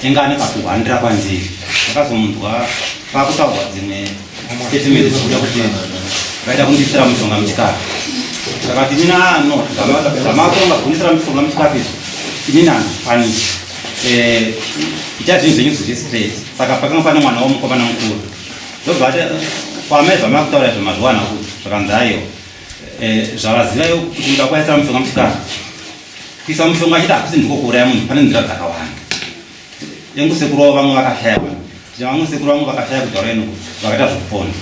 Tenga ane pakuhwandira kwanziri ndakazomunzwa pakutaurwa dzimwe statement dzekuda kuti vaida kundisira mushonga muchikafu akati inini ano zvamatonga kundisira mushonga muchikafu izvi inini handikwanisi eh, ita zvinhu zvenyu zviri straight saka pakanga pane mwana womukomana mukuru ndobva ati kwamai zvamakutaura izvo mazviwana kuti zvakanzi ayo eh, zvavaziva yo kuti ndakwaisira mushonga muchikafu Kuisa mushonga chete hakusi ndiko kuuraya munhu, pane nzira dzakawanda. Yangu sekuru wavo vamwe vakashaya vanhu. Tina vamwe sekuru vamwe vakashaya kutaura ino vakaita zvekupona.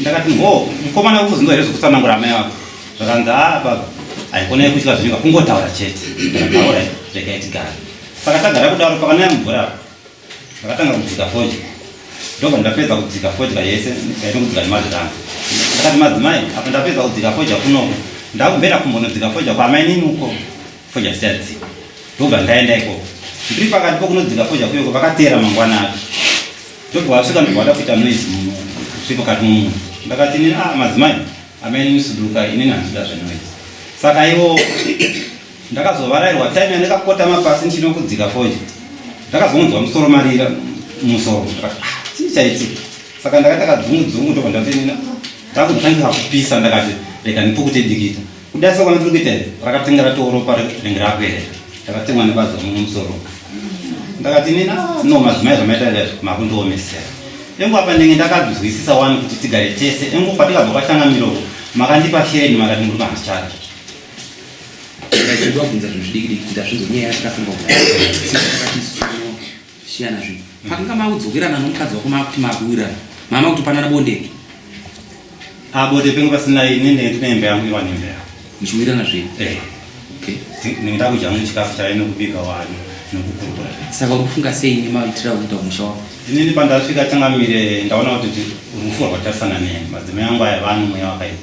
Ndakati ngo mukomana ukuzinzwa here zvekutsanangura amai vako. Zvakanzi ah baba haikona yekutya zvinyika kungotaura chete. Ndakati all right regai tigare. Saka tagara kudaro pakanaya mvura. Ndakatanga kudzika fodya ndobva ndapedza kudzika fodya yese ndaito kudzika nemazita angu ndakati madzimai apa ndapedza kudzika fodya kunoko ndakubvera kumbonodzika fodya kwaamainini uko fodya sichadzika ndobva ndaenda ikoko ndiri pakati pokunodzika fodya kuyoko vakateera mangwana acho ndobva vasvika ndobva vada kuita noise mukati mumunhu ndakati inini a ah, madzimai amainini suduka inini handida zvenoise saka iwo ndakazovarairwa time yandakakotama pasi ndichinokudzika foje ndakazonzwa musoro marira musoro ah, chii chaitika saka ndakaita kadzungudzungu ndobva ndatenena ndakutanga kupisa ndakati rega ndipukute dikita kudai sokwana tiri kuita iri rakatenga ratooropa ringe rakuera ndakatengwa nebadzo muno musoro ndakati nina ah, no madzimai zvamaita izvi makundiomesera engu apa ndenge ndakazwisisa wani kuti tigare tese engu patikabva kwatanga miroko makandipa sheni makati muri kuhandichati Ndaichidwa kubvunza zvinhu zvidikidiki ndazvinzwa nyaya yacho ndafunga kutisiyana zvinhu pakanga makudzokerana nomukadzi wako makuti makuwirana mama kuti panana bondeke abode pengu pasina ini ndinembe yangu iwa nembe yangu muchiwirana zvenyu eh. ndinge takudya mune chikafu chaive nekubika wani nokukurukura saka uri kufunga sei nemaitira okuita musha wako inini pandasvika changamire ndaona kuti rufu rwakatarisana neni madzimai angu aya vani mweya wakaipa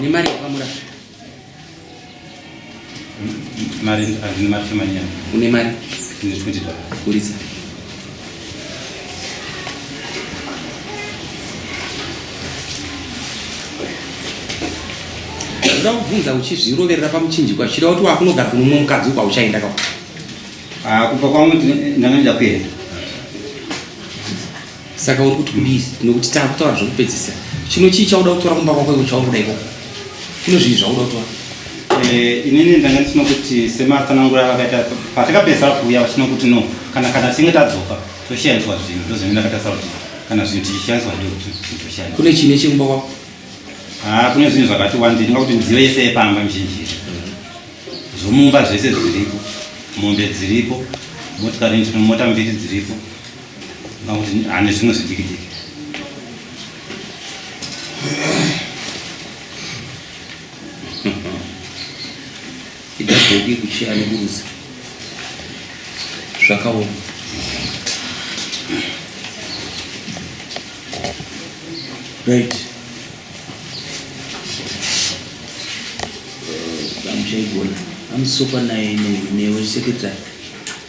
nemari yepamurara mari handine mari shomanyana une mari ine 20 dollars buritsa ndoda kubvunza uchizviroverera pamuchinjikwa zvichida kuti wakunogara kuno mumwe mukadzi uko auchaenda ka ah, kubva kwangu ndanga ndida kuenda saka uri kuti kudii nekuti takutaura zvekupedzisa chino chii chauda kutora kumba kwako iko chauri kuda ikoko kuno zvii zvauda kutora eh, inini ndanga ndisino kuti sematsanangura avakaita patakapedzisa kuuya vachino kuti no kana kana tinge tadzoka toshaiswa zvinhu ndozvine ndakatasa kuti kana zvinhu tichishaiswa ndotoshaiswa kune chine chekumba kwako haa ah, kune zvinhu zvakati wandi ndinga kuti midziyo yese yepamba mizhinji zvomumba zvese zviripo mombe dziripo motikari mota mbiri dziripo ane zvimwe zvidikidiki idabhoki kuchiya nekurusa zvakaoma right damuchaigona amusokwa naye newe secretary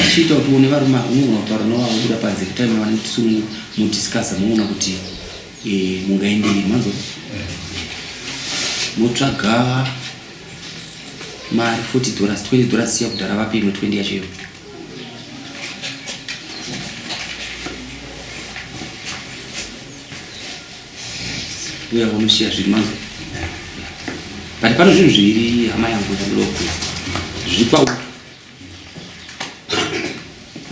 tichiita kuti une varume ava unogona kutaura navo vakubuda panze kutime vanenge tisu mudiscussa moona kuti eh, mungaenderei manzo motsvaga mari 40 dollars 20 dollars siya kudhara vape imwe 20 yacho iyo Uya unoshiya zviri mangu. But pano zvinhu zviviri hama yangu zvandoku. Zvipa uku.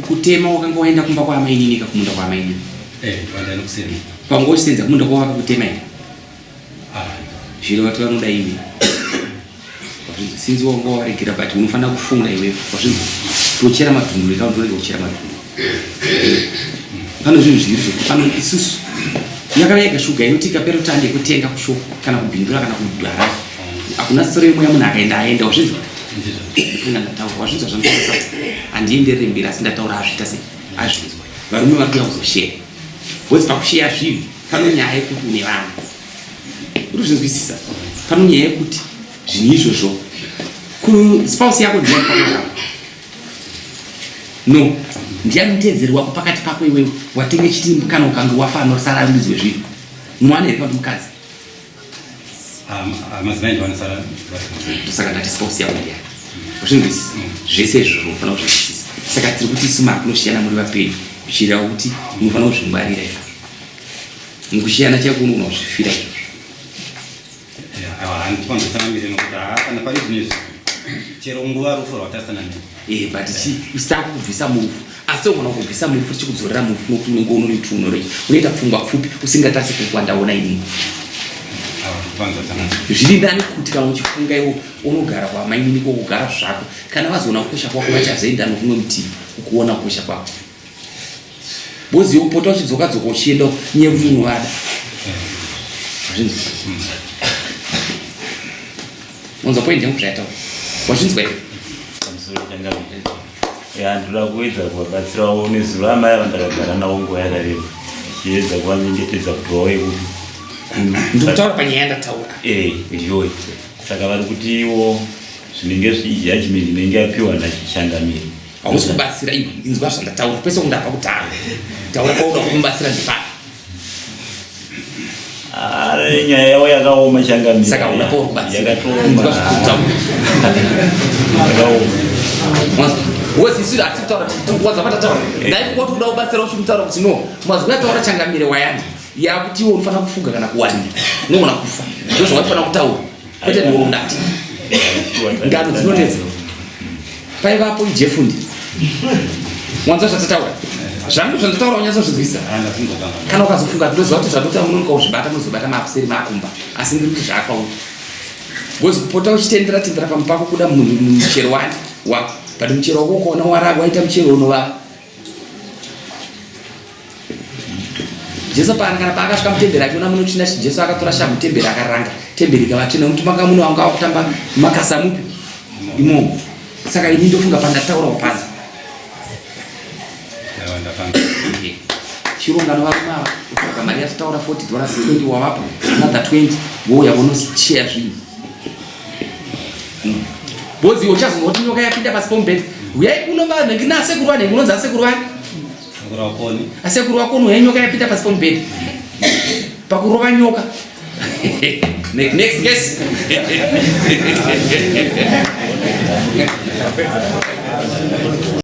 Kutema wakanga waenda kumba kwa amai nini ka kumunda kwa amai nini. Eh, wanda nokusema. Pangu osenza kumunda kwa wakakutema ina. Ah. Zviro watu vanoda imi. Wazvinzi sinzi wanga waregera but unofanira kufunga iwe wazvinzi tochera madhumbu reka ndorega kuchera madhumbu pane zvinhu zviri zvekuti pano isusu yakava yega shuga inoti ikapera kuti ande kutenga kushoko kana kubhindura kana kudhara hakuna soro yemoya munhu akaenda aenda wazvinzi ndifuna ndataura wazvinzi wazvandisa handienderere mberi asi ndataura azviita sei azvinzwa varume vari kuya kuzoshera wezi pakusheya zvinhu panonyaya yekuti une vanhu urikuzvinzwisisa pano nyaya yekuti zvinhu izvozvo kuspouse yako ndiani pakaiaa no ndiani mutedzeri wako pakati pako iwewe watenge chiti kana ukange wafa anosara ari mudzi wezvinhu mwana here kuti mukadzi saka ndati spouse yako ndiani uzvinzwisisa zvese izvozvo unofana kuzvinzwisisa saka tiri kuti isu makunosiyana muri vapenyu zvichireva kuti unofanira kuzvingwarira izvo Mukushiyana chako unogona kuzvifira handipanzotsangamire nokuti haa kana pari zvine zvi chero nguva rufu rwatasana ne eh, but usitanga kubvisa murufu asi unogona kubvisa murufu tichikudzorera murufu nokuti unenge unonoiti unorei unoita pfungwa pfupi usingatasi kukwa ndaona inini zviri nani kuti kana uchifunga iwo unogara kwamainini kwokugara zvako kana vazoona kukosha kwako vachazoenda nokumwe mutivi ukuona kukosha kwako Bozi yekupota uchidzoka dzoka uchienda nyaya kuti unovada. Unza point yangu zvayataura. Wazvinzwa here? Ya ndoda kuedza kuvabatsira waone zuva amai ava ndakagara navo nguva yakareba. Chiedza kuvanyengetedza kuti vauye kuno. Ndikutaura panyaya yandataura. Eh, ndiyo. Saka vari kuti iwo zvinenge zvijaji minhu inenge yapiwa nachichangamiri. Hausi kubatsira iwe, inzwa zvandataura pese kundapa kutanga. Taura pauda kumubatsira ndipani. Ari nyaya yavo yakaoma changamira. Saka uda pauri kubatsira. Inzwa zvandataura. Yakaoma wezisiri hatisi kutaura kuwadza matataura eh. dai kungoti kuda kubatsira uchi kutaura kuti no mazwi ataura changamire wayani yakuti iwe unofanira kufuga kana kuwanira unogona kufa ndozvawaifana kutaura kwete nhoro ndati ngano dzinonetsa paivapo ijefundi wanza zvatataura zvangu zvandataura unyatsozvizwisa kana ukazofunga ndinoziva kuti zvandotaura munonoka kuzvibata munozobata makuseri maakumba asi ndiri kuti zvaakwauri bcoz kupota uchitendera tendera pamupako kuda muchero wani wa but muchero wako ukaona wara waita muchero unovava jesu paangana paakasvika mutemberi achiona muno china chi jesu akatora shamhu temberi akaranga temberi ikava tsvina nokuti manga muno vanga vakutamba makasa mupi imomo saka ini ndofunga pandataura kupanza chirongano varume ava kutsvaga mari yatitaura 40 dollars 20 wavapo another 20 vouya vonoshare zvinhu Bozi uchazonwa kuti nyoka yapinda pasi pomubhedha. Uyai kuno vanhu ngina sekuru vanenge unonzi asekuru vani? Sekuru wakoni. Asekuru wakoni uyai nyoka yapinda pasi pomubhedha. Pakurova nyoka. Next, next guess.